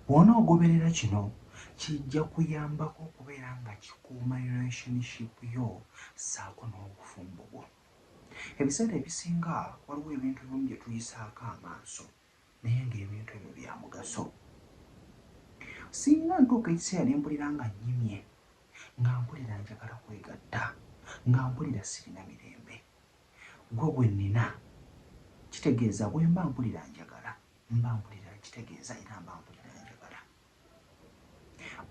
Bw'onoogoberera kino, kijja kuyambako okubeera nga kikuuma relationship yo ssaako n'obufumbo bwo. Ebiseera ebisinga waliwo ebintu ebimu bye tuyisaako amaaso naye ng'ebintu ebyo bya mugaso. Singa ntuuka ekiseera ne mpulira nga nnyimye, nga mpulira njagala kwegatta, nga mpulira sirina mirembe, ggwe gwe nnina, kitegeeza bwe mba mpulira njagala Mba mpulira nkitegeeza era mba mpulira njagala.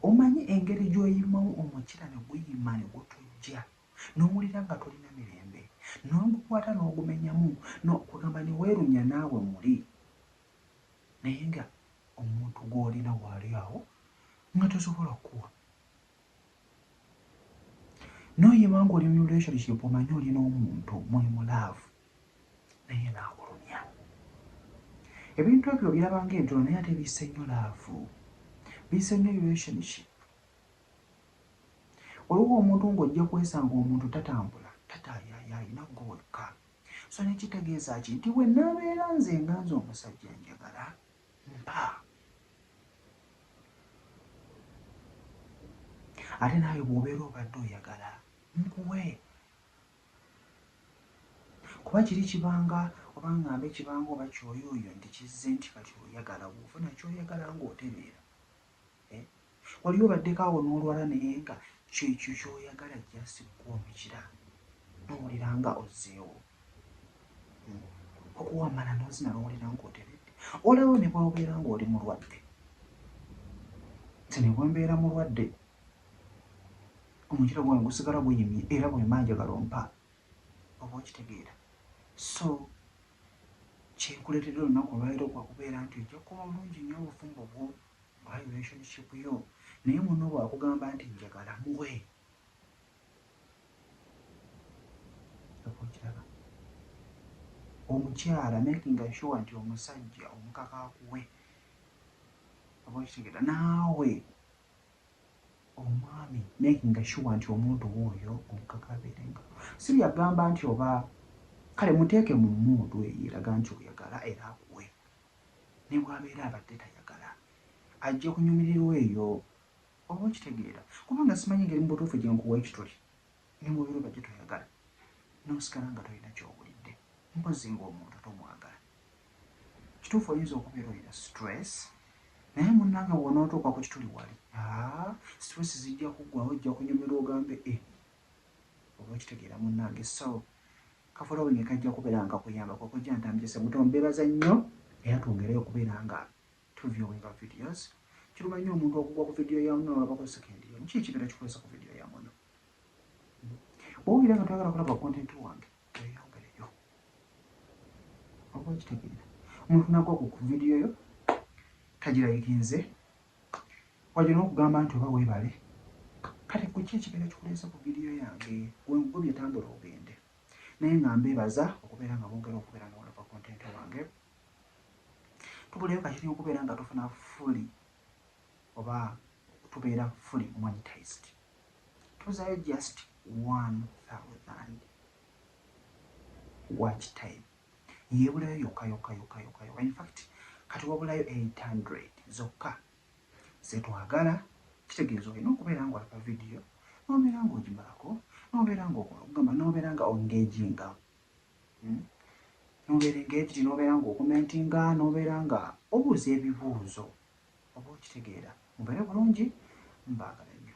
Omanyi engeri gy'oyimawo omukira ne guyima ne gutujja n'owulira nga tolina mirembe n'ogukwata n'ogumenyamu no kugamba ne weerunya naawe muli naye nga omuntu gw'olina waali awo nga tosobola kukuwa No ye bangu oli mu relationship omanyi oli n'omuntu muli mu love naye naakulumya. Ebintu ebyo obiraba ng'entono naye ate bisse nnyo laavu, bisse nnyo relationship. Waliwo omuntu ng'ojja kwesanga omuntu tatambula, tataayaaya alina ggwe wekka. So ne kitegeeza ki nti bwe naabeera nze nga nze omusajja njagala mpa ate naawe bw'obeera obadde oyagala nkuwe kuba kiri kibanga oba ng'amba ekibanga oba kyoyooyo nti kizze nti kati oyagala bw'ofuna kyoyagala ng'otereera Eh? Wali obaddeko awo n'olwala naye nga kyo ekyo ky'oyagala just kukuwa omukira n'owulira nga ozzeewo. Hmm. Okuwa amala n'ozina n'owulira ng'oteredde. Olaba ne bw'obeera ng'oli mulwadde. Nze ne bwe mbeera mulwadde omukira gwange gusigala guyimye era bwe mba njagala ompa oba okitegeera. So Kyekuletede olunaku olwalero kwakubera nti ojja kukola bulungi nyo obufumbo bwo oba relationship yo naye muno bwakugamba nti njagala muwe okiraba omukyala making sure nti omusajja omukaka akuwe oba okitegera naawe omwami makinga sure nti omuntu wo oyo omukaka abeere nga sylvia gamba nti oba kale muteeke mu mood eyo eraga nti oyagala era akuwe nebwabeera abadde tayagala ajja kunyumirirwa eyo oba okitegeera kubanga simanyi ngeri mubutuufu gyenkuwa ekituli nebwobeera obadde toyagala nosigala nga tolina kyobulidde mpozi nga omuntu tomwagala. Kituufu oyinza okubeera olina stress naye munange bwonootuuka ku kituli wali aa stress zijja kuggwawo ojja kunyumirwa ogambe e oba okitegeera munange so ka following kajja kubeera nga kakuyamba kwe kojja ntambise semuto mbebaza nnyo era twongereyo okubeera nga tu viewinga videos kiruma nnyo omuntu okugwa ku vidiyo ya muno olabako second yono ki ekibeera kikwesa ku vidiyo ya muno bwowulira nga toyagala kulaba content wange Tweyongereyo. Oba okitegeera. Omuntu nagwa ku vidiyo yo tagirayikinze wadde n'okugamba nti oba weebale kati kuki ekigenda kikuleese ku vidiyo yange wengubye tambula ogende naye nga mbeebaza okubeera nga mwongera okubeera nga walaba kontenti wange tubuleyo kakiri okubeera nga tufuna fuli oba tubeera fuli monitized tozayo just 1000 watch time yebulayo yoka yoka yoka yoka yoka in fact kati wabulayo 800 zokka zetwagala kitegeeza olina okubeera nga olaba vidiyo nobeera nga ogimalako nobeera nga okugamba nobeera nga ongage nga hmm? nobeera engage nobeera nga okumentinga nobeera nga obuuza ebibuuzo Oba okitegeera. Mubeere bulungi. Mbaagala nnyo.